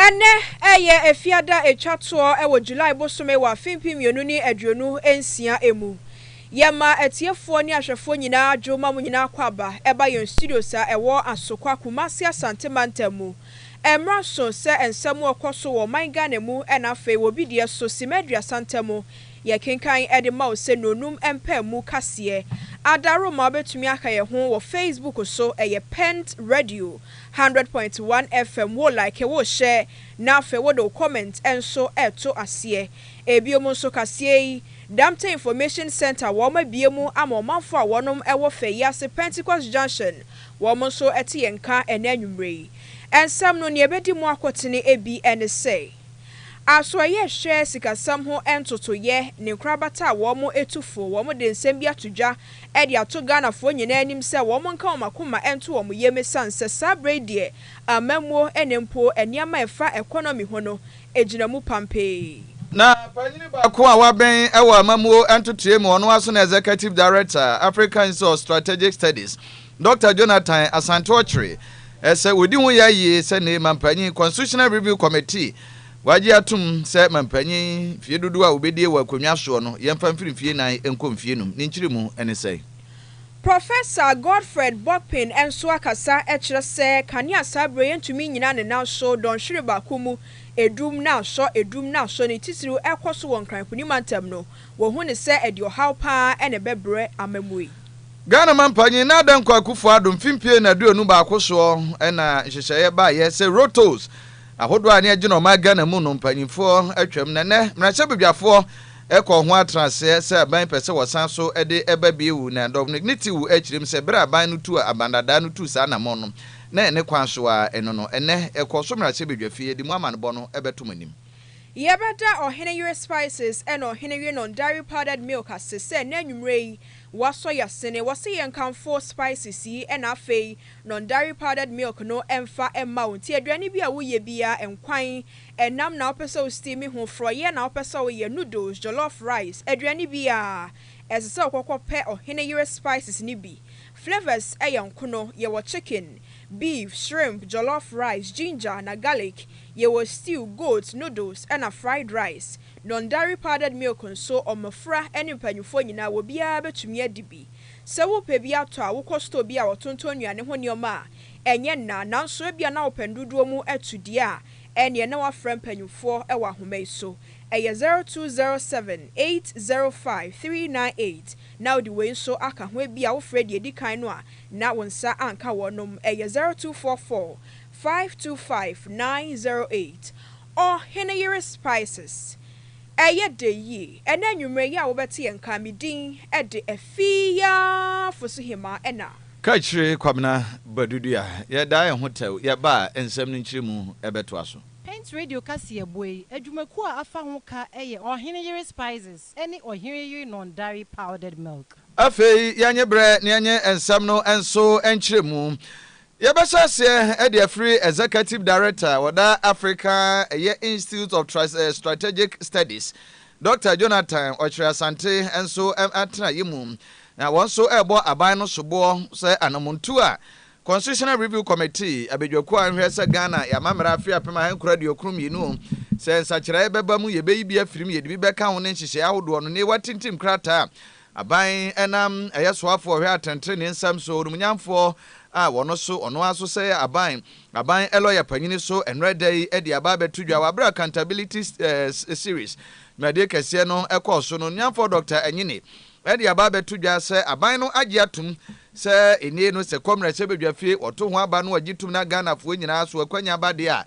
Ɛnnɛ ɛyɛ Efiada etwa toɔ wɔ July bosome wɔ afe mpem mmienu ne aduonu nsia mu. Yɛma atiefoɔ ne ahwɛfoɔ nyinaa dwo ma mo nyinaa akwaaba ɛba yɛn studios a ɛwɔ Asokwa, Kumasi Asante Mantam mu. Ɛmmra so sɛ nsɛm a ɛkɔ so wɔ ɔman Ghana mu na afei wɔ obi deɛ so simma aduasa ntam. Yɛkenkan de ma wo sɛ nnuonum mpae mu kaseɛ. Ada Roma wobɛtumi aka yɛn ho wɔ Facebook so ɛyɛ Pent Radio hundred point one FM wo like wo share na afei wode wo comment nso reto aseɛ. Ebiom nso kaseɛ yi Damte Information Centre wɔn abue mu ama ɔmanfoɔ a wɔnom wɔ fɛ yi ase Pentecost Junction Wɔn nso te yɛn nka ɛnnɛ anwummere yi. Nsɛm no, nea ebedi mu akotene bi ne sɛ, Asoɛeɛ rehwɛ sikasɛm ho ntotoeɛ, ne nkorabata a wɔn tu fo. Wɔde nsɛm bi ato dwa de ato Ghanafoɔ nyinaa anim sɛ wɔn nka wɔn akoma nto wɔn yam esiane sɛ saa berɛ yi deɛ amammuo ne mpo nneɛma a ɛfa economy ho no gyina mu pampee. Na panyin baako a wabɛn wɔ amammuo ntotoeɛ mu, ɔno ara nso ne Executive Director, Africa Institute of Strategic Studies, Dɔkta Jonathan Asante ɔkyeree sɛ wɔdi ho yɛ yie sɛ nnɛ yi mampanyin, Constitutional Review Committee, wɔagye atom sɛ mampanyin mfeɛ dodoɔ a wɔbɛdie wɔ akonnwa soɔ no yɛmfa mfiri mfeɛ nnan nkɔ mfeɛ num. Ne nkyerɛmu ne sɛn? Professor Godfred Bokpin nso akasa kyerɛ sɛ kanea saa berɛ yi ntumi nnyina ne nan so, dɔnhwere baako mu, adum na asɔ, adum na asɔ, ne titiriw ɛrekɔ so wɔ Nkran Kuni mantam no, wɔhu no sɛ ɛde ɔhaw pa ara na ɛbɛbrɛ amammui. Ghana mampanyin Nana Dankwa Akufo-Addo mfe mpien na aduonu baako soɔ na nhyehyɛeɛ baeɛ sɛ Road Tolls ahodoɔ a ani agye no ɔman Ghana mu no mpanyinfoɔ atwam na nnɛ mmarahyɛbedwafoɔ kɔɔ ho atenaseɛ sɛ aban pɛ sɛ wɔsan so de ɛba bio na Dɔmnic ne Tew kyerem sɛ berɛ a aban no tuu Abandada no tuu saa anammɔn no na ɛne kwan so ara ɛno no ɛnnɛ ɛkɔ so mmarahyɛbedwafie yɛde mu amanebɔ no bɛto mo anim. Yɛbɛda Ɔhene Yere Spices ne Ɔhene Yenon Dairy Powdered Milk ase sɛ nnɛ anwumerɛ yi Wasɔ yasene wɔse yɛ nkamfo spices yi ɛna afei non dairy powdered milk no ɛnfa ɛmma wo nti aduane bi a woyɛ biaa nkwan ɛnam na wopɛ sɛ wo steam ho frɔyɛ na wopɛ sɛ woyɛ noodles jollof rice aduane biaa ɛsɛ sɛ wokɔkɔ pɛ ɔhene yere spices no bi flavours ɛyɛ nkono yɛwɔ chicken beef shrimp jollof rice ginger na garlic yɛwɔ stew goat noodles ɛna fried rice Non-dairy powdered milk nso, mmofra ne mpanyimfoɔ nyinaa, obiara betumi adi bi. Sɛ worepɛ bi atɔ a, wokɔ store bi a wɔtontɔn nnuane ho nneɛma a, ɛnyɛ nna. Nanso ebia na wopɛ ndodoɔ mu to deɛ a, ɛnneɛ na woafrɛ mpanyimfoɔ wɔ ahoma yi so. Ɛyɛ zero two zero seven, eight zero five, three nine eight. Na wode wei nso aka ho, ebia wofrɛɛ deɛ ɛdi kan no a, na wo nsa anka wɔnom. Ɛyɛ zero two four four. Five two five nine zero eight Ɔhene yere spices ɛyɛ dɛ yie ɛnɛ anwummerɛ yi a wobɛte yɛn nka me din de Afia Fosu Hemaa ɛna. Kakyire Kwabena Badudua yɛdaa yɛn ho tɛw yɛba a nsɛm no nkyerɛmu bɛtoa so. Paint Radio kaseɛ boa yi adwumakuo a afa ho ka yɛ Ɔhene yere spices ɛne Ɔhene yere Nondari powdered milk. Afei yɛnye berɛ na yɛnye nsɛm no nso nkyerɛmu Yɛbɛhyɛ aseɛ de afiri Executive Director a ɔda Africa ɛyɛ Institute of Strategic Studies, Dɔkta Jonathan Ɔkyere Asante nso atenaeɛ mu, na wɔn nso rebɔ aban no soboɔ sɛ anamontuo a Constitutional Review Committee abadwakuo a ɛhwɛ sɛ Ghana y'amammara afe apem ahankron aduokron mmienu sɛ nsakyeraɛ bɛba mu yɛbɛyi bi afiri mu yɛde bi bɛka ho ne nhyehyɛeɛ ahodoɔ no na yɛatintim krataa a Aban nam ɛyɛ soafoɔ ɔhwɛ atɛntrenee nsɛm so, onumnyamfoɔ a wɔno so ɔno ara so sɛ aban aban lɔya panyini so ɛnora da yi de aba abɛto dwa wɔ abere a Accountability Series dwumadie kɛseɛ no kɔɔ so no. Onumnyamfoɔ Dɔkta Anyini de aba abɛto dwa sɛ aban no agye atom sɛ enie no sɛ kɔmmerɛsɛ badwa fie, wɔto ho aba no wɔgye tom na Ghanafoɔ nyinaa so akwannya aba deɛ a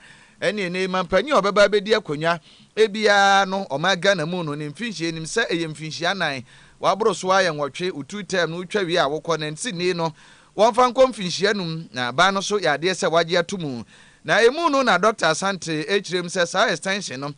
ɛneɛ nnɛ yi mampanyin a ɔbɛba abɛdi akonnwa Ebia no ɔman Ghana mu no ne mfinhyia nim sɛ ɛyɛ mfinhyia anan, waboro so ara yɛ nwɔtwe, wo tu term no wo twa wie a wo kɔ na nti nnee no wɔmfa nkɔ mfinhyia anum na aban no so yɛ adeɛ sɛ wagye ato mu na ɛmu no na Doctor Asante ɛkyerɛ mu sɛ saa extension no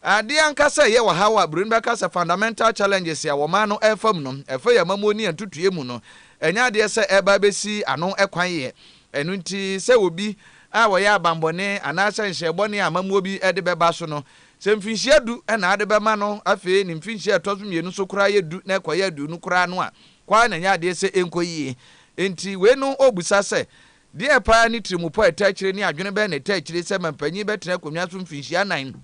adeɛ ankasa ɛyɛ ɔhaw a buroni bɛka sɛ fundamental challenges a ɔman no ɛrefa mu no ɛfa yɛn amammuo ne yɛn ntotoeɛ mu no ɛnyɛ adeɛ sɛ ɛreba abɛsi ano kwan yɛ Ɛno nti, sɛ obi a ɔyɛ abanbɔne anaasɛ nhyɛɛ bɔne a amammuo bi de bɛba so no, sɛ mfinhyia du na ade bɛma no, afei ne mfinhyia a ɛtɔ so mmienu so koraa yɛ du na ɛkɔyɛ aduonu koraa no a, kɔ ara na nyɛ adeɛ sɛ ɛnkɔ yie. Enti wei no ɔrebisa sɛ, Deɛ paa ne tirimupɔ a ɛtaa akyire ne adwene bɛn na ɛtaa akyire sɛ mampanin bɛtena akonnwa so mfinhyia nnan?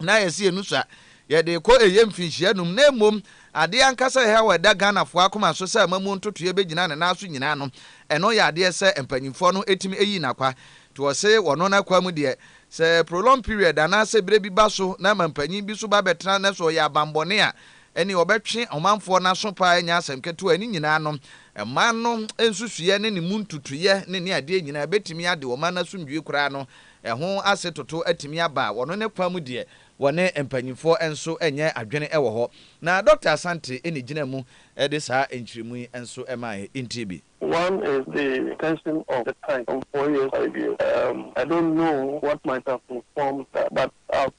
na yɛ se ɛnu sa yɛde rekɔ ɛyɛ mfinhyia num na mmom adeɛ ankasa a ɛhaw a ɛda Ghanafoɔ akoma so sɛ amamuo ntotoeɛ bɛgyina ne nan so nyinaa no ɛno yɛ adeɛ sɛ mpanyinfoɔ no ɛtumi ɛyi no akwa nti wɔse wɔno no akwa mu deɛ sɛ prolonged period anaa sɛ berɛ bi ba so na ɛma mpanyin bi so ba bɛtena na sɛ ɔyɛ abanbɔne a ɛne ɔbɛtwe ɔmanfoɔ no aso paa ɛnyɛ asɛm ketewa ɛne nyinaa no ɛman no nsusuiɛ ne ne mu ntutuiɛ ne ne adeɛ nyinaa ɛbɛtumi ade ɔman no asomdwie koraa no Ɛho ase toto atumi aba a, wɔno ne kwa mu deɛ, wɔne mpanyimfoɔ nso nyɛ adwene wɔ hɔ. Na Dɔkta Asante na ɛgyinaa mu de saa nkyeremu yi nso maaeɛ. Ntie bi. One is the tension of the time, some four years five years, um, I don't know what might have informed that, but I've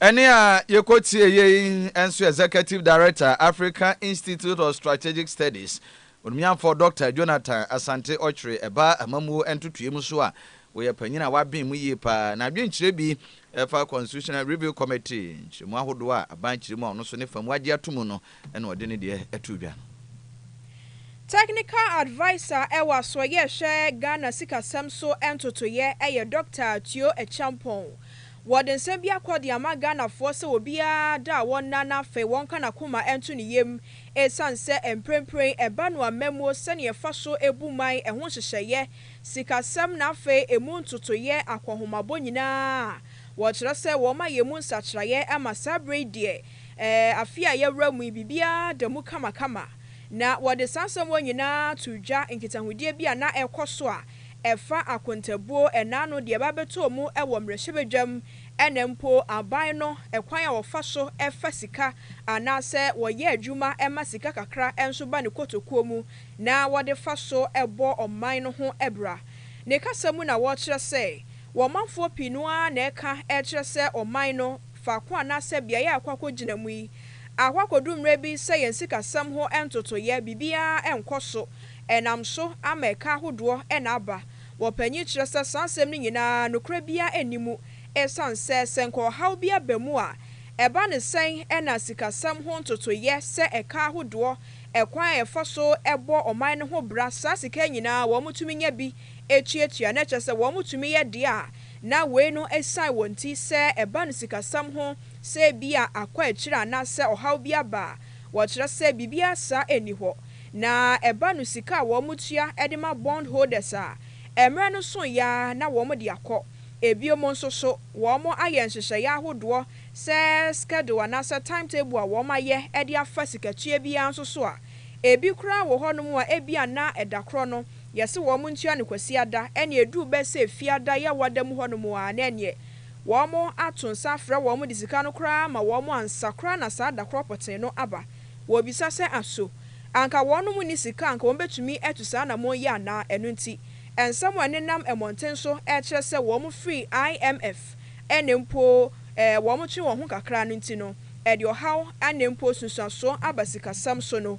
Ɛnne a yekotieɛ yi nso Executive Director, African Institute of Strategic Studies, Onumiamfoɔ Dɔkta Jonathan Asante Ocwere ɛbaa amammuo ntotoeɛmu so a wɔyɛ panyin a waben mu yie pa ara. N'adwenkyerɛ bi ɛfa Constitutional Review Committee nkyerɛmu ahodoɔ a aban kyerɛ mu a ɔno nso ne fa mu agye ato mu no ɛna ɔde ne deɛ too dwa no. Technical Adviser wɔ Asoɛeɛ a ɛhwɛ Ghana Sikasɛm so ntotoeɛ yɛ Doctor Tuo Acheampong. Wɔde nsɛm bi akɔ de ama Ghanafoɔ sɛ obiara da a wɔnna na afei wɔnka n'akoma nto ne yam ɛsiane sɛ mprempren ɛba no ammamuo sɛnea ɛfa so bu man, ɛho nhyehyɛeɛ, sikasɛm na afei ɛmu ntotoeɛ akɔnhomabɔ nyinaa a wɔkyerɛ sɛ wɔma yɛn mu nsakyeraeɛ ma saa berɛ yi deɛ Ɛɛ, afe a yɛawura mu yi, biribiara da mu kamakama. Na wɔde saa nsɛmmɔne nyinaa too dwa, nkitahodie bi a na ɛrekɔ so a ɛfa akontabuo, ɛna ano, deɛ ɛba abɛtɔɔ mu wɔ mmarahyɛbadwam, ɛna mpo aban no kwan a wɔfa so fa sika anaasɛ wɔyɛ adwuma ma sika kakra nso ba ne kotokuo mu na wɔde fa so bɔ ɔman no ho bra. Ne kasa mu na wɔkyerɛ sɛ, wɔ ɔmanfoɔ pii no ara na ɛka kyerɛ sɛ ɔman no faako anaasɛ beaeɛ a ɛkɔ akɔgyina mu yi, akɔ akɔduru mmerɛ bi sɛ yɛn sikasɛm ho ntotoeɛ biribiara nkɔ so, ɛnam so ama ɛka ahodoɔ na aba. Wɔpanyin kyerɛ sɛ saa asɛm no nyinaa nokorɛ biara nni mu, ɛsiane sɛ sɛ nka ɔhaw bi aba mu a, ɛba no sɛn na sikasɛm ho ntotoeɛ sɛ ɛka ahodoɔ, ɛkwan a yɛfa so bɔ ɔman no ho bra, saa sika nyinaa wɔtumi nya bi, etuatua na kyerɛ sɛ wɔtumi yɛ de a, na wei no asian wɔn nti sɛ ɛba no sikasɛm ho sɛ ebia akɔ akyiri anaasɛ ɔhaw bi aba a, wɔkyerɛ sɛ biribiara saa nni hɔ. Na ɛba no sika a wɔtua de ma bond holders a, mmerɛ no soeɛ ara na wɔde akɔ. Ebiom nso so, wɔayɛ nhyehyɛeɛ ahodoɔ sɛ schedule anaasɛ time table a wɔayɛ de afa sikatua biara nso so a, ebi koraa wɔ hɔnom a ebia na ɛdakorɔ no, Yɛse wɔn ntua no Kwasiada ɛne ɛduru bɛ sɛ Fiada yɛ wɔda mu hɔnom aa na ɛneɛ wɔn ato nsa afrɛ wɔn de sika no koraa ama wɔn ansa koraa na saa da korɔ pɔtee no aba. Wɔbisa sɛ aso anka wɔnom nni sika anka wɔn bɛtumi atu saa anamɔn yi anaa? Ɛno nti nsɛm a ɛnenam mmɔnten so ɛkyerɛ sɛ wɔn firi IMF ɛne mpo ɛɛ wɔn twe wɔn ho kakra no nti no ɛde ɔhaw ɛne mpo nsunsuansoɔ aba sikasɛm so no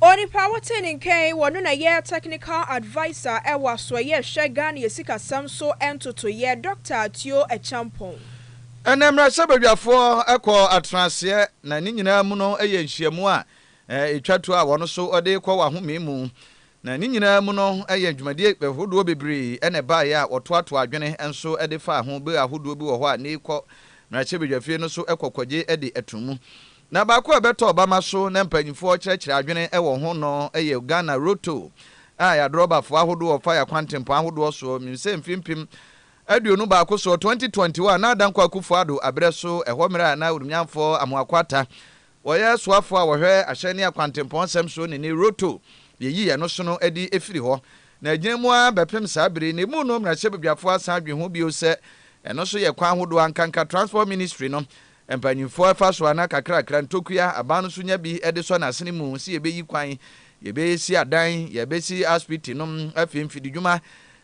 Onipa a wɔte ne nka yi, ɔno na ɛyɛ Technical Adviser wɔ Asoɛeɛ a ɛhwɛ Ghana Asikasɛm so Ntotoeɛ, Dɔkta Atio Acheampong. Ɛnnɛ mmarahyɛbadwafoɔ kɔ atenaseɛ na ne nyinaa mu no yɛ nhyiamu a ɛtwa tuo a wɔn so de rekɔ wɔ ahome mu. Na ne nyinaa mu no yɛ dwumadie ahodoɔ bebree na ɛbaeɛ a wɔtoatoa adwene nso de faa ho. Bere ahodoɔ bi wɔ hɔ a na ɛkɔ mmarahyɛbadwafie no so kɔ kɔgye de to mu. Na baako a ɛbɛtɔ ɔbama so na mpanyimfoɔ kyerɛkyerɛ adwene wɔ ho no yɛ Ghana Roto a yɛadrɔbafoɔ ahodoɔ wɔfa yɛakwantempɔn ahodoɔ soɔ. Menim sɛ mfeɛ mpem aduonu baako soɔ, 2021, na Dankwa Akufo-Addo aberɛ so ɛhɔ mmerɛ a na Orumyanfoɔ Amoako Atta wɔyɛ soafoɔ a wɔhwɛ ahyɛn ne akwantempɔn nsɛm soɔ nini Roto yɛyi ɛno sono adi firi hɔ na ɛgyina mu ara bɛpem saa bere yi. Na emu no mmarahyɛbadwafoɔ asan adwene ho bio sɛ ɛno nso yɛ kwan ahodoɔ ankanka Transport Ministry no Mpanyimfoɔ fa so ara kakrakra ntokua, aban no nso nya bi de sɔ n'asene mu sɛ yɛbɛyi kwan, yɛbɛsi adan, yɛbɛsi asopiti no, afei mfididwuma.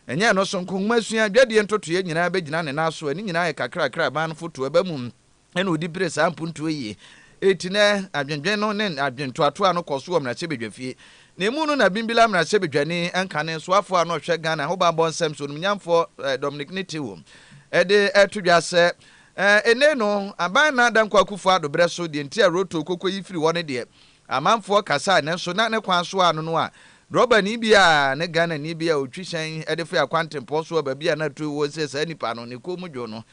Ɛnyɛ ɛno so nko, nwomasua, dwadie ntotoeɛ nyinaa bɛgyina ne nan so. Ne nyinaa yɛ kakrakra a aban no fotoɔ ba mu na ɔdi pere saa mpuntuo yi. Enti nnɛ, adwendwen no ne adwentoatoa no kɔ so wɔ mmarahyɛbadwafie. Na emu no na Bimbilla mmarahyɛbadwani nkane soafoɔ a na ɔhwɛ Ghana ahobammɔ nsɛm so, onimnyamfoɔ Dominic Nitiwum de to dwa sɛ, Ɛɛ, enei no, aban na Dankwa Akufo Addo berɛ so, deɛ nti a Roto Koko yi firi hɔ no deɛ, amanfoɔ kasae, nanso na ne kwan so a no no a drɔbani bi a ne Ghanani bi a ɔtwi hyɛn de firi akwantempɔn so aba bi a na tuo wɔ sɛ saa nipa no ne kɔn mu dwo no,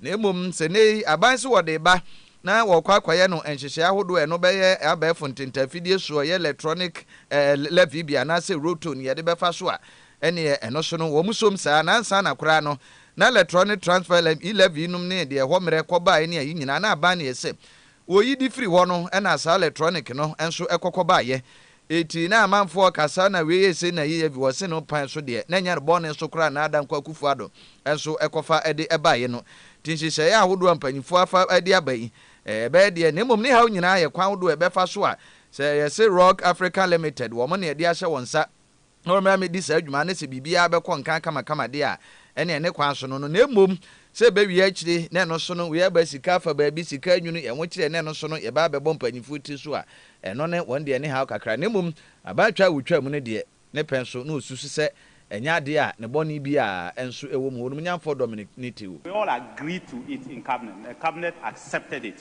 na mmom sɛ nnɛ yi aban se wɔde reba na wɔrekɔ akɔyɛ no nhyehyɛe ahodoɔ a ɛno bɛyɛ abɛɛfo ntentaafidie so, ɛyɛ electronic eh, levy bi anaasɛ Roto ne yɛde bɛfa so a, ɛneɛ ɛno so no wɔn som saa, na ansa na koraa no Na lɛtrɔ ne transfer lɛm i lɛv yinom ne deɛ ɛhɔ mmerɛ kɔbaeɛ ne ayi nyinaa na aban ne ɛsɛ wɔyi de firi hɔ no na saa lɛtrɔnik no nso ɛkɔ kɔbaeɛ eti na amanfoɔ ka saa na wei ese na yei ɛvi wɔ se no kpan so deɛ na ɛnyɛ bɔne so koraa na Dankwa Akufo Addo nso ɛkɔfa de ɛbaeɛ no nti nhyehyɛeɛ ahodoɔ a mpanyinfoɔ afa de aba yi ɛbɛyɛ deɛ na mmom ne haw nyinaa yɛ kwan ahodoɔ a ɛbɛfa so a sɛ yɛse Rock Africa Limited wɔn na ɛde ahyɛ wɔn nsa na wɔmmra mmedi saa dwuma no sɛ biribiara bɛkɔ nkan kamakama de a, ɛnneɛ ne kwan so no no, na mmom sɛ ɛbɛwie akyire na ɛno so no wɔaba sika afa baabi, sika anwunu yɛn ho kyerɛ na ɛno so no yɛba abɛbɔ mpaninfoɔ tiri so a, ɛno ne wɔn deɛ ne haw kakra, na mmom abaatwa a wɔtwa mu no deɛ, ne pɛ nso na wɔsusu sɛ ɛnyɛ adeɛ a ne bɔne biara nso wɔ mu, Honumnyamfoɔ Dominic Nitiwul. We all agreed to it in cabinet, the cabinet accepted it.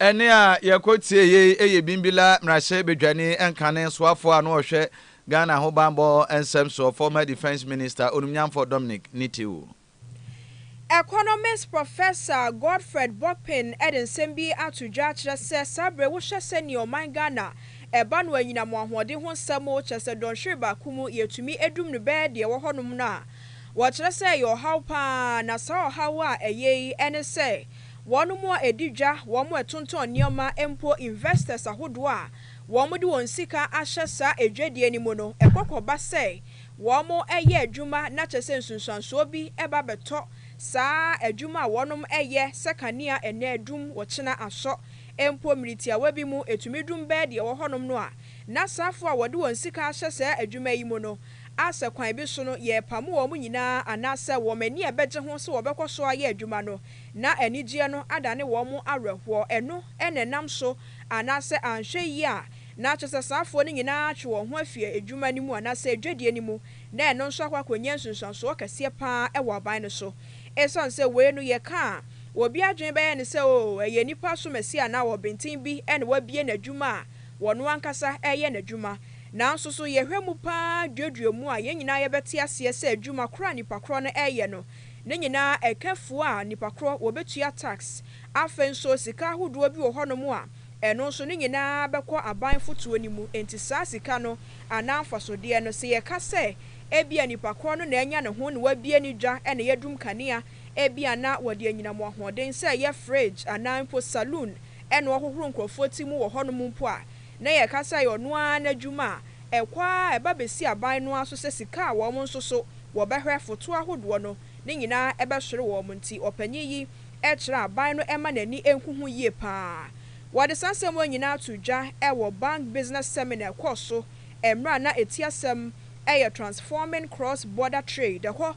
Ɛnne a yɛkɔtie yei yɛ Bimbilla mmarahyɛbadwani nkane soafoɔ a na ɔhwɛ Ghana ahobammɔ nsɛm soɔ, former Defence Minister, Onumnyamfoɔ Dominic Nitiw. Economist Professor Godfred Bokpin de nsɛm bi ato dwa akyerɛ sɛ saa berɛ yi wohwɛ sɛdeɛ ɔman Ghana ɛba no anyinam wɔ ahoɔden ho nsɛm mu, kyerɛ sɛ dɔnhwere baako mu yɛtumi dum no bɛyɛ deɛ ɛwɔ hɔnom no a, Wɔkyerɛ sɛ ɛyɛ ɔhaw paa, na saa ɔhaw a ɛyɛ yi ne sɛ wɔnom a ɛdi dwa, wɔn a ɛtontɔn nneɛma, mpo investors ahodoɔ a wɔde wɔn sika ahyɛ saa adwadie no mu no, ɛkɔ kɔba sɛ wɔyɛ adwuma na kyerɛ sɛ nsunsuansoɔ bi ba bɛtɔ saa adwuma a wɔnom yɛ sɛ kanea ɛnnɛ adum, ɔkyena asɔ, mpo mmere tiawa bi mu ɛtumi dum bɛyɛ deɛ ɛwɔ hɔnom no a, na saafoɔ a wɔde wɔn sika ahyɛ saa adwuma yi mu no a sɛ kwan bi so no yɛrepamo wɔn nyinaa anaasɛ wɔn ani a ɛbɛgye ho sɛ wɔbɛkɔ so ayɛ adwuma no na anigyeɛ no adane wɔn awerɛhoɔ, ɛno na ɛnam so anaasɛ anhwɛ yie a na akyerɛ sɛ saa afoɔ no nyinaa atwe wɔn ho afiri adwuma no mu anaasɛ adwadie no mu na ɛno nso akɔ akɔnya nsunsuansoɔ kɛseɛ pa ara wɔ aban no so. Ɛsiane sɛ wei no yɛka a obi adwene bɛyɛ no sɛ oo ɛyɛ nnipa asomasie anaa ɔbenten bi na wabue n'adwuma a ɔno ankasa reyɛ n'adwuma, Nanso so yɛhwɛ mu paa duadua mu a yɛn nyinaa yɛbɛte aseɛ sɛ adwuma korɔ a nnipa korɔ no reyɛ no ne nyinaa ɛka fuo a nnipa korɔ wɔbɛtua tax? Afei nso sika ahodoɔ bi wɔ hɔnom a ɛno nso ne nyinaa bɛkɔ aban fotoɔ no mu. Enti saa sika no anaa mfasodeɛ no sɛ yɛka sɛ ebia nnipa korɔ no na anya ne ho na wabue ne dwa na yɛadum kanea ebia na wɔde anyina mo ahoɔden sɛ ɛyɛ fridge anaa mpo saloon na wɔhohoro nkorɔfoɔ ti mu wɔ hɔnom mpo a Na yɛka sɛ ɛyɛ ɔno ara n'adwuma a ɛkɔ ara a ɛba bɛsi aban no ara so sɛ sika a wɔn nso so wɔbɛhwɛ foto ahodoɔ no ne nyinaa bɛsore wɔn nti ɔpanin yi kyerɛ aban no mma n'ani nhu ho yie pa ara. Wɔde saa nsɛm wei nyinaa too dwa wɔ Bank Business Seminar a ɛkɔɔ so mmerɛ a na ɛti asɛm yɛ Transforming Cross Border Trade ɛhɔ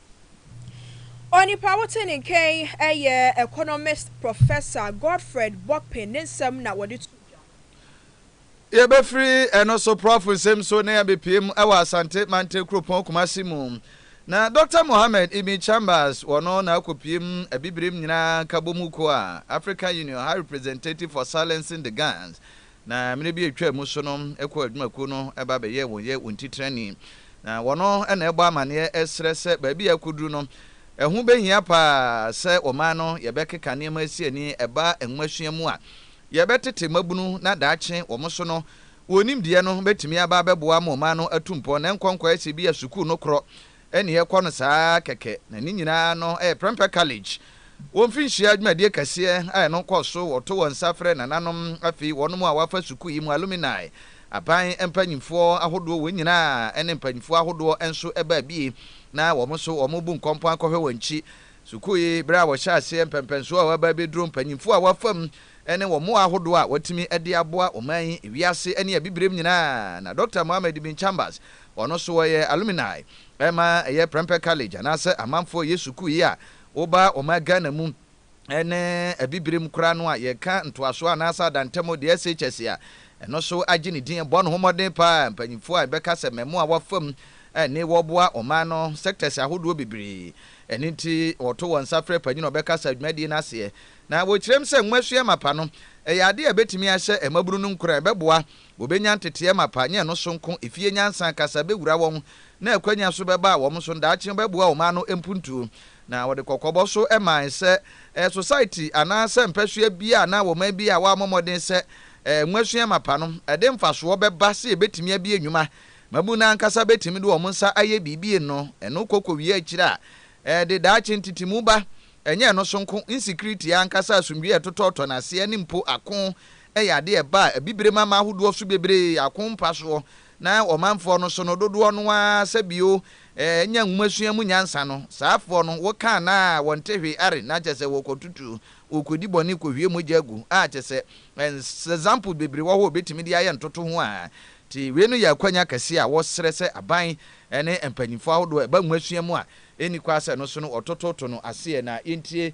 Onipa a wote ne nka yi yɛ economist Professor Godfred Bokpin ne nsɛm na wɔde too dwa no. Yɛbɛfiri ɛno so Prɔfo nsɛm so na yɛabɛpue mu wɔ Asante Mantam kuropɔn Kumasi mu. Na Dɔkta Mohammed Ibn Chambers, wɔno na akɔpue mu Abibirem Nyinaa Nkabɔmu Kuo a African Union High Representative for Silencing the Guns Na mmere bi a etwaa mu so no, ɛkɔɔ adwumakuw no ba bɛyɛɛ wɔn yɛ wɔn titenani. Na wɔno na ɛbɔ amanneɛ srɛ sɛ baabi a akoduru no, ɛho behia paa sɛ ɔman no yɛbɛkeka nneɛma asi ani ɛba nwomasua mu a yɛbɛtete mmabunu na daakye wɔn so no wɔn nimdeɛ no betumi aba abɛboa ama ɔman no atu mpɔn na ɛnkɔ nkɔyɛ sɛ ebia sukuu no korɔ ɛne ɛkɔ no saa ara kɛkɛ, na ne nyinaa no yɛ prɛmpɛ college. Wɔ mfinhyia dwumadie kɛseɛ a ɛno kɔ so, wɔto wɔn nsa frɛ nananom, afei wɔnom a wɔafa sukuu yi mu alumni, aban mpanyinfoɔ ahodoɔ, wɔn nyinaa ne mpanyinfoɔ ahodoɔ nso baa bi, na wɔn nso wɔbu nkɔmpɔn akɔhwɛ wɔn akyi. Sukuu yi, berɛ a wɔhyɛɛ aseɛ, mpɛmpɛnsoɔ a wɔaba abɛduro, mpanyinfoɔ a wɔafa mu, ne wɔn mmoa ahodoɔ a wɔatumi de aboa ɔman yi, wiase ne abibirem nyinaa, na Dɔkta Mohammed Bin Chambers Wɔn nso wɔyɛ alumni ma ɛyɛ Prempeh College anaasɛ Amanfoɔ Yɛ Sukuu yi a woba ɔman Ghana mu ne Abibirem koraa no a yɛka ntoasoɔ anaasɛ adantamu deɛ SHS a ɛno nso agye ne din bɔ ne ho mmɔden pa ara mpanyinfoɔ a yɛbɛka sɛ mmamu a wɔafam ne wɔboa ɔman no sectors ahodoɔ bebree ɛno nti wɔto wɔn nsa frɛ panyin a ɔbɛka saa dwumadie no aseɛ na wɔkyerɛm sɛ nwomasua mapa no ɛyɛ adeɛ a ɛbɛtumi ahyɛ mmabunu no nkuran ɛbɛboa Wɔbɛnya nteteɛ mapa, nyɛ ɛno so nko, efie nyansa, kasa bɛwura wɔn, na akwanya so bɛba wɔn so, daakye wɔbɛboa wɔn ano mpuntuo. Na wɔde kɔkɔbɔ so mae sɛ, ɛɛ, Society anaa sɛ mpɛsoa biara anaa ɔman biara a wɔammɔ mmɔden sɛ ɛɛ, nwasua mapa no, ɛde mfasoɔ bɛba sɛ yɛbɛtumi abie nnwuma. Mmabunu no ankasa bɛtumi de wɔn nsa ayɛ biribi no, ɛno kɔ kɔwie akyire a, ɛde daakye ntetemu ba, ɛnyɛ ɛno so nko, nsikiritie ankasa, asomdwie a ɛtotɔɔtɔ no aseɛ ne mpo ako yɛ ade a ɛba a abibirem ama ahodoɔ so bebree ako mpa soɔ, na ɔmanfoɔ no so no dodoɔ no ara sɛ bio nya nwomasua mu nyansa no, saafoɔ no, wo ka anaa a wɔnte hwee are na kyɛsɛ wɔkɔtutu, wɔkɔdi bɔne kɔhwie mogya gu, a kyɛsɛ examples bebree wɔ hɔ a wɔbɛtumi de ayɛ ntotoho a te wei no yɛ akwanya kɛseɛ a wɔsrɛ sɛ aban ne mpanyinfoɔ ahodoɔ ɛba nwomasua mu a ɛnni kwa sɛ no so no wɔtototo no aseɛ na yɛntie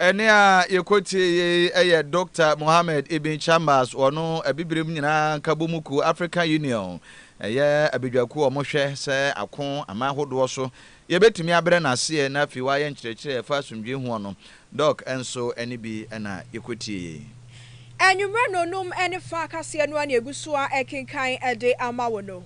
Ɛnne a yɛkɔtie yei yɛ Dɔkta Mohamed Ibn Chambas, wɔno Abibirem Nyinaa Nkabɔmu Kuo, African Union, ɛyɛ abadwakuo a wɔhwɛ sɛ ako aman hodoɔ so yɛbɛtumi abrɛ no aseɛ na afei wayɛ nkyerɛkyerɛ a ɛfa asomdwoeɛ hoɔ no. Dɔk. Nso ɛnne bi na yɛkɔtie yei. Anwummerɛ nnɔnnum ne fa kaseɛ no a na yɛgu so ara rekenkan de ama wo no,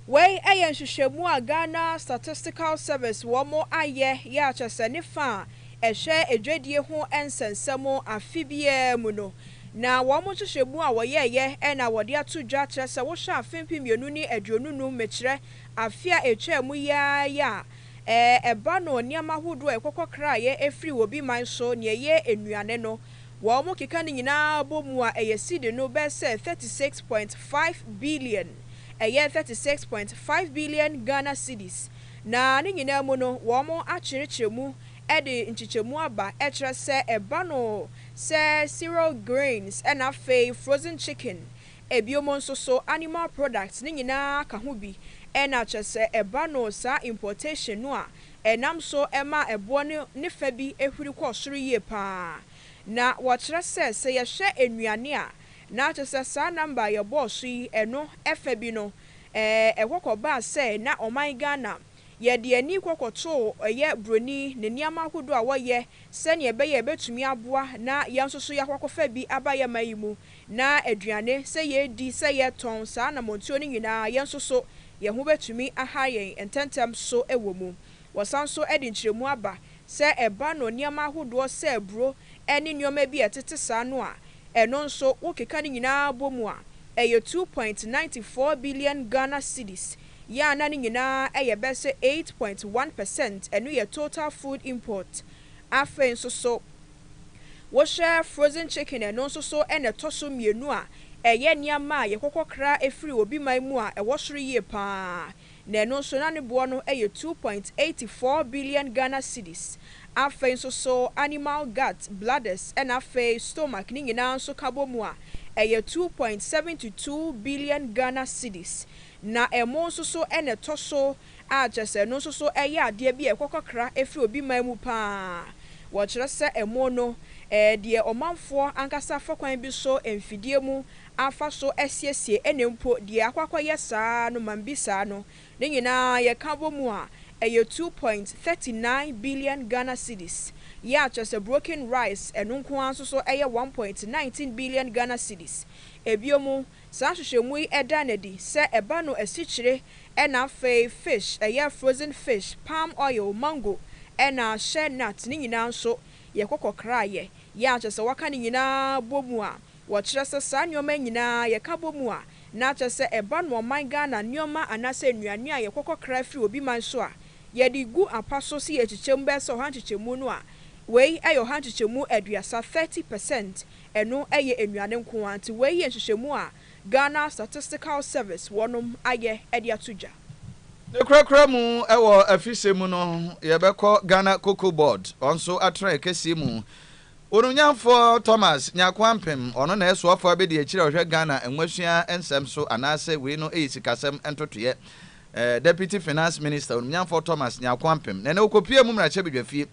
Wei yɛ nhwehwɛmu a Ghana Statistical Service wɔn ayɛ yɛ a kyerɛ sɛ ne fa a ɛhwɛ adwadie ho nsɛnsɛm afe biara mu no na wɔn nhwehwɛmu a wɔyɛeɛ na wɔde ato dwa kyerɛ sɛ wohwɛ afe mpem mmienu ne aduonu num mekyerɛ afe a ɛtwaa mu yi ara yi a ɛba no nneɛma ahodoɔ a ɛkɔkɔ kraeɛ ɛfiri obi man so nea ɛyɛ nnuane no wɔn keka no nyinaa bɔ mu a ɛyɛ cedi no bɛyɛ sɛ thirty six point five billion. ɛyɛ thirty six point five billion Ghana cedis, na ne nyinaa mu no wɔn akyerekyerɛ mu de nkyekyɛmu aba kyerɛ sɛ ɛba no sɛ cereal grains na afei frozen chicken, ebiom nso so animal products ne nyinaa ka ho bi na kyerɛ sɛ ɛba no saa importation no a ɛnam so ma ɛboɔ no ne fa bi huri kɔ soro yie paa na wɔkyerɛ sɛ sɛ yɛhwɛ nnuane a Na kyerɛ sɛ saa number a yɛbɔɔ so yi, ɛno ɛfa bi no, ɛɛ, ɛkɔ kɔbaa sɛ na ɔman Ghana, yɛde ani kɔ kɔtoo ɛyɛ buroni ne nneɛma ahodoɔ a wɔyɛ sɛdeɛ ɛbɛyɛ a ɛbɛtumi aboa na yɛn nso so yɛakɔ akɔfa bi aba yɛn man yi mu, na aduane, sɛ yɛredi, sɛ yɛretɔn, saa anammɔntuo no nyinaa, yɛn nso so yɛn ho bɛtumi aha yɛn ntɛntɛm so wɔ mu. Wɔsan nso de nkyerɛmu aba Sɛ ɛba no nneɛma ahodoɔ sɛ aburo ne nneɛma bi a ɛtete saa no a, ɛno nso wo keka ne nyinaa bɔ mu a, ɛyɛ two point ninety four billion Ghana cedis, yɛ a na ne nyinaa ɛyɛ bɛ sɛ eight point one percent, ɛno yɛ total food import. Afei nso so wo hwɛ frozen chicken ɛno nso so na ɛtɔ so mmienu a, ɛyɛ nneɛma a yɛkɔkɔ kra firi obi man mu a ɛwɔ soro yie pa ara. na ɛno nso na ne boɔ no yɛ two point eight four billion Ghana cedis, afei nso so animal gut, bladders na afei stomach ne nyinaa nso ka bɔ mu a ɛyɛ two point seven to two billion Ghana cedis, na ɛmo nso so na ɛtɔ so a kyerɛ sɛ ɛno nso so yɛ adeɛ bi a ɛkɔ kakra firi obi man mu pa ara, wɔkyerɛ sɛ ɛmo no ɛyɛ deɛ ɔmanfoɔ ankasa fa kwan bi so mfidie mu afa so asiesie ɛna mpo deɛ akɔ akɔyɛ saa no mambisaa no ne nyinaa yɛka bɔ mu a ɛyɛ two point thirty nine billion Ghana cedis yɛ a kyerɛ sɛ broken rice ɛno nko ara nso so ɛyɛ one point nineteen billion Ghana cedis Ɛbiom saa nhwehwɛmu yi ɛda no adi sɛ ɛba no asikyire ɛna afei fish ɛyɛ frozen fish palm oil mango ɛna shea nut ne nyinaa nso yɛkɔ kɔkraeɛ yɛ a kyerɛ sɛ wɔaka ne nyinaa bɔ mu a Wɔkyerɛ sɛ saa nneɛma yi nyinaa yɛka bɔ mu a, na kyerɛ sɛ ɛba no ɔman Ghana nneɛma anaasɛ nnuane a yɛkɔkɔ kra firi obi man so a, yɛde gu apa so sɛ yɛkyekyɛ mu bɛyɛ sɛ ɔha nkyekyɛmu no a, wei yɛ ɔha nkyekyɛmu aduasa, 30 per cent, ɛno yɛ nnuane nko ara nti wei yɛ nhyehyɛmu a Ghana Statistical Service wɔnom ayɛ de ato dwa. Ne korakora mu wɔ afisɛm mu no, yɛbɛkɔ Ghana Cocoa Board wɔn nso atrae kɛseɛ mu Onuonyamfoɔ Thomas Nyarko Ampem, ɔno na ɛsoa fo abɛdi akyire a ɔhwɛ Ghana Nwasua nsɛm so anaasɛ wei no yɛ sikasɛm ntotoeɛ? Deputy Finance Minister, Onuonyamfoɔ Thomas Nyarko Ampem, na ɛnɛ ɔkɔpuee mu mmarahyɛbadwafie.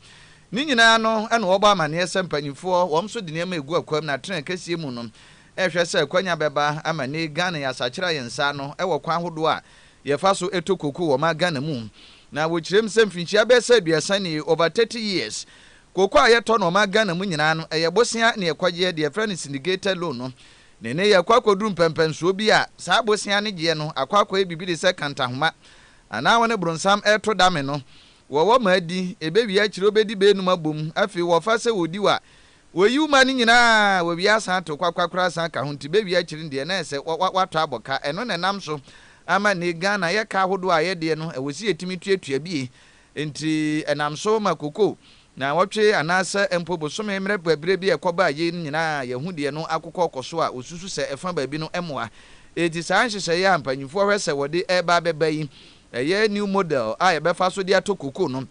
Ne nyinaa no na wɔbɔ amaneɛ sɛ mpaninfoɔ wɔn nso de nneɛma ɛgu akwam na tren kɛseɛ mu no rehwɛ sɛ akwanya bɛba ama nnɛ yi Ghana yɛasakyera yɛn nsa ano wɔ kwan ahodoɔ a yɛfa so tɔ koko wɔ ma Ghana mu na wɔkyerɛm sɛ mfinhyia bɛsɛ aduasa nie, over 30 years, Kooko a yɛtɔ no ɔman Ghana mu nyinaa no, ɛyɛ bosea ne yɛkɔgyeɛ, deɛ yɛfrɛ no syndicated loan no. Ne nnɛ yɛkɔ akɔduru mpɛnpɛnsoɔ bi a, saa bosea no gyeɛ no akɔ akɔyɛ biribi te sɛ kantahoma, anaa wɔne bronsam reto dame no. Wɔwɔ ma adi, ɛbɛwie akyire wobɛdi bɛnum abɔ mu, afei wɔfa sɛ wɔdi wo a, wɔyi wo ma no nyinaa, wɔwie asan ato kwakwa koraa san ka ho, nti bɛwie akyire no deɛ na ayɛ sɛ woatɔ abɔ ka. Ɛno na ɛnam so ama nnɛ Ghana yɛ ka ahodoɔ a yɛdeɛ no, ɛwɔ sɛ yɛtumi tuatua bi. Enti ɛnam so ma koko, naawɔtwe anaasɛ mpo bosome mmerɛ bɛbrɛ bi a ɛkɔbaa yei no nyinaa a yɛahu deɛ no akokɔ kɔ so a wɔsusu sɛ ɛfa baabi no mmoa. Enti saa nhyehyɛeɛ a mpanyinfoɔ hwɛ sɛ wɔde reba abɛba yi, ɛyɛ new model a yɛbɛfa so de atɔ koko no,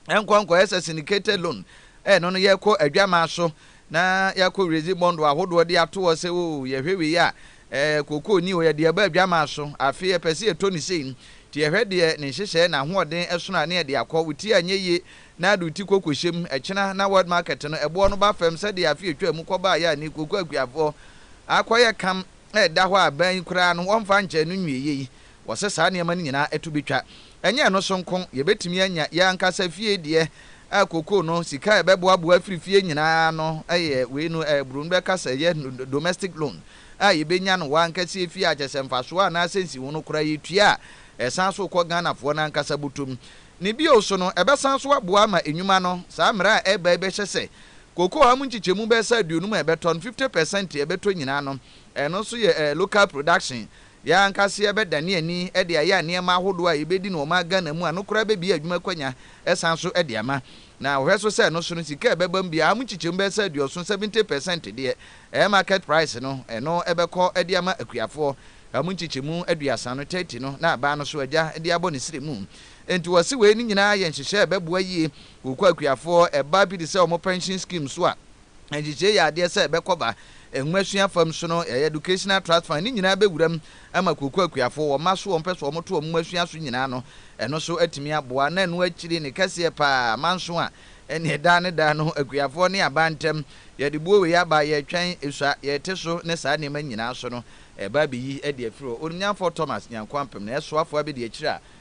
ɛnkɔ nkɔyɛ sɛ syndicated loan a ɛno no yɛkɔ adwamaa so na yɛakɔ wiradzi bɔndo ahodoɔ de ato hɔ sɛ oo yɛhwɛ wei a eh kookoo ni oo yɛde aba adwamaa so afe yɛpɛ sɛ yɛtɔ no sei nti yɛhwɛ deɛ ne nhyehyɛɛ na ahoɔden ɛsono a ne yɛde akɔ wo ti anyɛ yie na de wo ti kɔ kɔhyɛ mu ɛkyena na world market no ɛboɔ no ba fam sɛdeɛ afe ɛtwaa mu kɔ baeɛ a ne kookoo akuafoɔ akɔyɛ kam ɛda hɔ a aban yi koraa no wɔmfa nkyɛɛ no nwieɛ yi Wɔsɛ saa nneɛma no nyinaa to betwa. Ɛnyɛ ɛno so nko, yebetumi anya yɛn ankasa fie deɛ a kookoo no, sika a yɛbɛboaboa afiri fie nyinaa ano ayɛ wei no, a Broni bɛka sɛ ɛyɛ domestic loan, a yebenya no w'ankasa fie a kyerɛ sɛ mfasoɔ anaasɛ nsiho no koraa yetua a ɛsan so kɔ Ghanafoɔ no ankasa bɔtɔ mu. Ne bio so no, ɛbɛsan so aboa ama nnwuma no. Saa mmara a ɛreba yi bɛhyɛ sɛ kookoo a mu nkyekyɛmu bɛyɛ sɛ aduonum a yɛbɛtɔ no, fifty pɛsɛnte a yɛbɛtɔ nyinaa no, ɛno nso yɛ local production, Yɛn ankasa yɛbɛdane ani de ayɛ nneɛma ahodoɔ a yɛbɛdi no wɔ ɔman Ghana mu a ɛno koraa bɛbue adwuma akwanya san so de ama. Na wɔhwɛ so sɛ ɛno so no, sika a ɛbɛba mu biara mu nkyekyɛmu bɛyɛ sɛ aduɔson, seventy per cent, deɛ ɛyɛ market price no, ɛno bɛkɔ de ama akuafoɔ. Ɛmu nkyekyɛmu aduasa no, thirty, no na aban no so agya de abɔ ne srɛ mu. Enti wɔse wei no nyinaa yɛ nhyehyɛɛ a ɛbɛboa yie wɔ kwa akuafoɔ, ɛba pi te sɛ wɔn pension scheme so a, Nhyehyɛe yi yɛ adeɛ sɛ ɛbɛkɔ ba Nwomasua fam, so no ɛyɛ Educational Trust Fund, ne nyinaa bɛwura mu ama kuokuo akuafoɔ, wɔn mma so wɔn pɛ sɛ wɔn to wɔn nwomasua so nyinaa no, ɛno nso atumi aboa. Na ɛno akyiri ne kɛseɛ pa ara, manso a, ɛnneɛ daa ne daa no akuafoɔ ne aban ntam, yɛde boɔ wei aba, yɛretwɛn, sua, yɛrete so ne saa nneɛma nyinaa so no, ɛreba abɛyi adi afiri hɔ. Onimnyanfoɔ Thomas Nyanko Ampem na ɛsoafoɔ abɛdi akyire a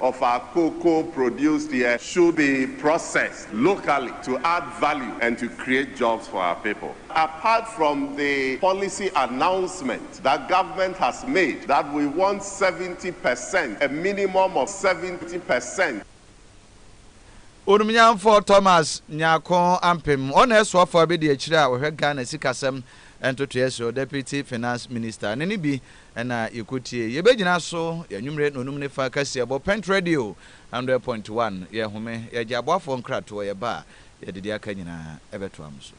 of our cocoa produced here should be processed locally to add value and to create jobs for our people. Apart from the policy announcement that government has made that we want seventy per cent, a minimum of seventy per cent, Onumnyamfoɔ Thomas Nyarko Ampem, ɔna ɛsoafoɔ abɛdi akyire a ɔhwɛ Ghana sikasɛm ntotoeɛ so, Deputy Finance Minister, ne ne bi na yɛkɔtie. Yɛbɛgyina so yɛ anwumerɛ nnɔnum ne fa kaseɛbɔ, Pent Radio 100.1, yɛhome, yɛgye aboafoɔ nkratoɔ, yɛba a yɛde deɛ aka nyinaa ɛbɛtoa mo so.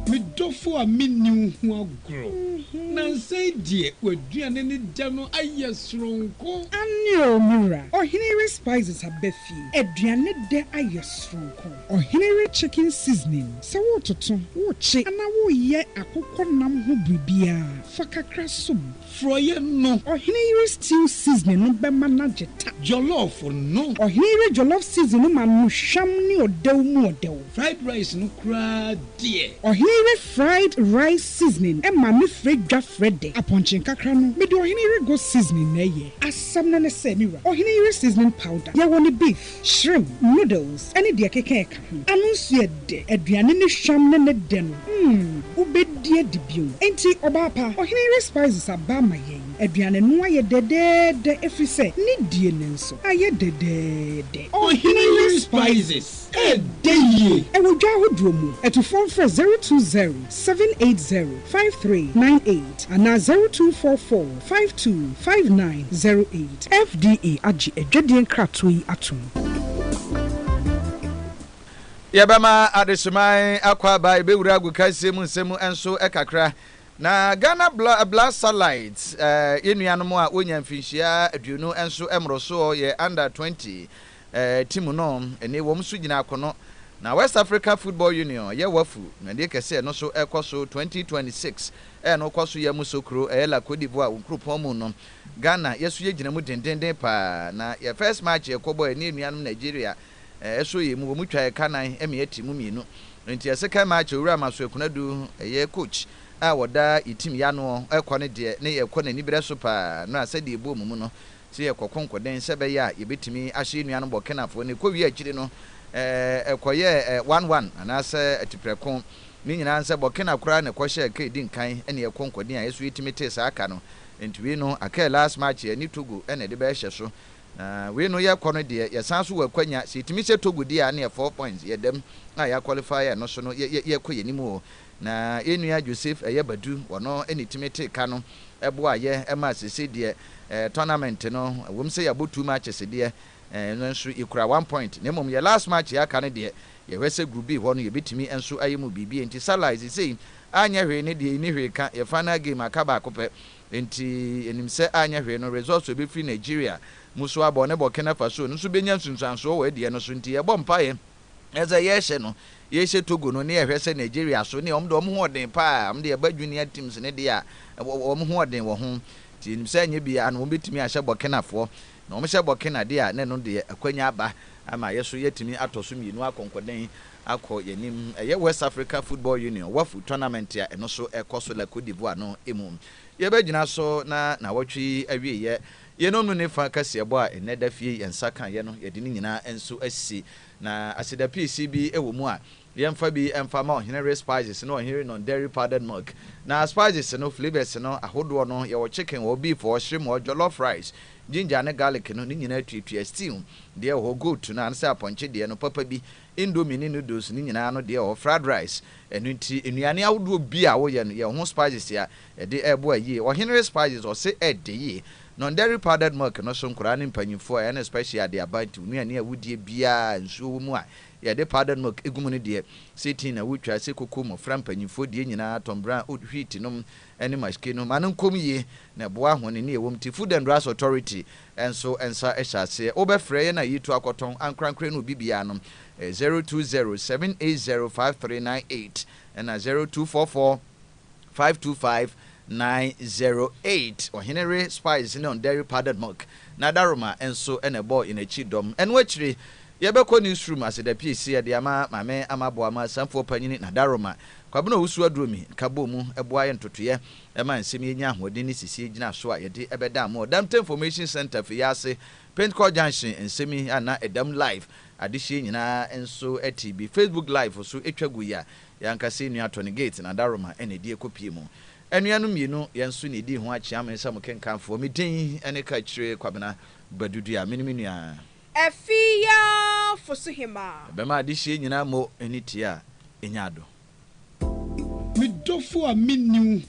Me dɔfo a menni wo ho agorɔ. Nansa yi deɛ w'aduane ne dɛ no ayɛ soronko. Aane oo me wura, ɔhene yere Spices aba fie, aduane dɛ ayɛ soronko. Ɔhene we chicken seasoning sɛ woretoto, worekye anaa woreyɛ akokɔ nam ho biribiara, fa kakra som. Frɔeɛ no. Ɔhene yere stew seasoning no bɛma no agye ta. Jollof no. Ɔhene yere jollof seasoning no ma no hwam ne ɔdɛw mu ɔdɛw. Fried rice no koraa deɛ. Ɔhene yere fried rice seasoning ma no frɛ dwa frɛ dɛ. Apɔnkye nkakra no, mede ɔhene yere goat seasoning na ɛyɛ. Asɛm no ne sɛ, me wura, ɔhene yere seasoning powder, yɛwɔ no beef. Shrimp, noodles ne deɛ ɛkeka ɛka ho. Ano nso yɛ dɛ. Aduane ne hwam ne ne dɛ no mm wobɛdi adi bio. Enti ɔbaa pa, ɔhene yere spices aba ama yɛn. Aduane no ayɛ dɛdɛɛdɛ ɛfiri sɛ ne die no nso ayɛ dɛdɛɛdɛ. Ɔhene yere spices ɛdɛ yie. Ɛwɔ dwa ahodoɔ mu. Atufoɔ mfrɛ zero two zero, seven eight zero, five three nine eight anaa zero two four four, Five two five nine zero eight. FDA agye adwadie nkratoɔ yi atom. Yɛbɛma Adehyeman Akwaaba bɛwura agokansie mu nsɛm mu nso kakra. Na Ghana Blood Satellites yɛn nuanom a wɔnya mfinhyia aduonu nso mmorosoɔ, yɛ under twenty, Ɛɛ timu no ɛne wɔn nso gyina akono na West Africa Football Union yɛ wafu dwumadie kɛseɛ no so ɛkɔ so 2026 ɛɛ no kɔ so yɛ mu so kuro ɛɛ la Cote d'Ivoire wo nkuropɔn mu no Ghana yɛ so yɛ gyina mu dendenden paa na yɛ first match yɛ kɔ bɔ ɛne anuanom Nigeria ɛɛ so yɛ mu wɔn twa yɛ ka nan ɛmeɛ timu mmienu nti yɛ second match Owura Masoe Konadu ɛyɛ coach a wɔda yɛ timu yɛ anoɔ ɛkɔ no deɛ ne yɛ kɔ naniberɛ so paa no a sɛdeɛ ɛbuo mu mu no Sɛ yɛkɔ konkoden sɛ ɛbɛyɛ a yɛbɛtumi ahyɛ yɛn nuanom bɔ Kenafoɔ no, ɛkɔwie akyiri no, ɛkɔyɛɛ one one anaasɛ atiprɛko. Ne nyinaa nsɛ bɔ Kena koraa na ɛkɔhyɛɛ aka ɛdi nkan ne yɛn konkoden a ɛso yɛtumi tee saa aka no. Enti wei no aka last match yɛne Togo na ɛde bɛhyɛ so. Na wei no yɛkɔ no deɛ yɛsan nso wɔ akwanya sɛ yɛtumi hyɛ Togo deɛ a ne yɛ four points yɛdam a yɛaqualify a ɛno so no yɛkɔ yɛn anim o. Na yɛn nua Joseph Ɛyɛ Badu, ɔno ne tumi tee ka no, boaa yɛ maa seesei deɛ tournament no, ɛwom sɛ yɛabɔ two matches deɛ, nanso yɛkura one point, na mmom yɛ last match a aka no deɛ, yɛhwɛ sɛ Group B hɔ no yɛbɛtumi nso ayɛ mu biribi, enti Salah seesei anyɛ hwee ne deɛ nni hwee ka, yɛ final game aka baako pɛ, enti yɛnim sɛ anyɛ hwee no results a ɛbɛfiri Nigeria mu so abɔ ne Burkina Faso no nso bɛnya nsunsuansoɔ wɔ ɛdeɛ no so, enti yɛbɔ mpaeɛ. Na sɛ yɛrehyɛ no, yɛrehyɛ Togo no ne yɛhwɛ sɛ Nigeria so neɛ wɔn deɛ wɔn ho ɔden paa, wɔn deɛ ɛba junior teams no deɛ a wɔn ho ɔden wɔ ho. Nti yɛnim sɛ anyɛ biara no wɔbɛtumi ahyɛ Burkinafoɔ. Na wɔhyɛ Burkina deɛ a na ɛno deɛ akwanya aba ama yɛso yɛatumi atɔ so mmienu akɔ nkɔden akɔ yɛn anim. Ɛyɛ West Africa Football Union, Wafu, tournament a ɛno so ɛrekɔ so la Cote d'Ivoire no mu. Yɛbɛgyina so na nawɔtwe yi awieɛ. Yeinom no ne fa kaseɛbɔ a nnɛ da fie yɛn nsa ka yɛ no, yɛde ne nyinaa nso asi. Na aseda piisi bi wɔ mu a, yɛmfa bi mfa ma ɔhene we spices ne ɔhene non dairy powdered milk. Na spices no, flavours no ahodoɔ no, yɛwɔ chicken wɔ hɔ, beef wɔ hɔ, shrimp wɔ hɔ, jollof rice, ginger ne garlic no, ne nyinaa tuatua, stew deɛ wɔ hɔ, goat no anaa sɛ apɔnkye deɛ no, papa bi, indomie ne noodles ne nyinaa no deɛ wɔ hɔ, fried rice. Ɛno nti nnuane ahodoɔ bi a woyɛ no, yɛwɔ ho spices a Ɛde ɛɛboa yie. Ɔhene Respices ɔse ɛɛdɛ yie. Non-dairy powdered milk no so nkoraa ne mpanyinfoɔ ɛne special ade aban to nnuane a wodie biaa a nsuo wɔ mu a yɛde powdered milk egu mu no deɛ se tea na wotwa se koko mmɔfra mpanyinfoɔ die nyinaa tɔn brown oat wheat nom ɛne mashke nom ma no nkɔm yie na ɛboa ahone ne ɛwɔ mu te Food and Drugs Authority nso nsa hyɛ aseɛ wobɛfrɛ yɛn a yɛtu akɔtɔn ankorankorɛ ne obi biaa nom ɛyɛ zero two zero seven eight zero five three nine eight ɛna zero two four four. Five two five nine zero eight Ɔhene re spice ne ɔndɛre powdered milk na Daroma nso na ɛbɔɔ yɛn akyi dɔm. Ɛno akyire, yɛbɛkɔ newsroom asedapiesi ɛde ama Maame Amaboama Asanfoɔ Panyini na Daroma, Kwabena Owusu Aduromi nka bɔɔ mu boa yɛn ntotoeɛ ma nsɛm yi nya ahoɔden ne sisiɛ gyina so a yɛde bɛda mo wɔ Damte Information Centre fie ase Pentecourt Junction nsɛm yi a na ɛdam live adehyeɛ nyinaa nso te bi Facebook live so twa gui a Yɛn ankasa nua Tony Gates na Daruma na ɛdi ɛkɔpie mu. Anua no mmienu, yɛn nso na ɛdi ho akyea me sɛ mo kenkanfoɔ. Me din ne Kakyire Kwabena Badu Dua. Mene me nua. Afiafo so hemaa. Ɛbɛma adehyeɛ nyinaa mo ani tea anya adɔ. Me dɔfo a menni wo.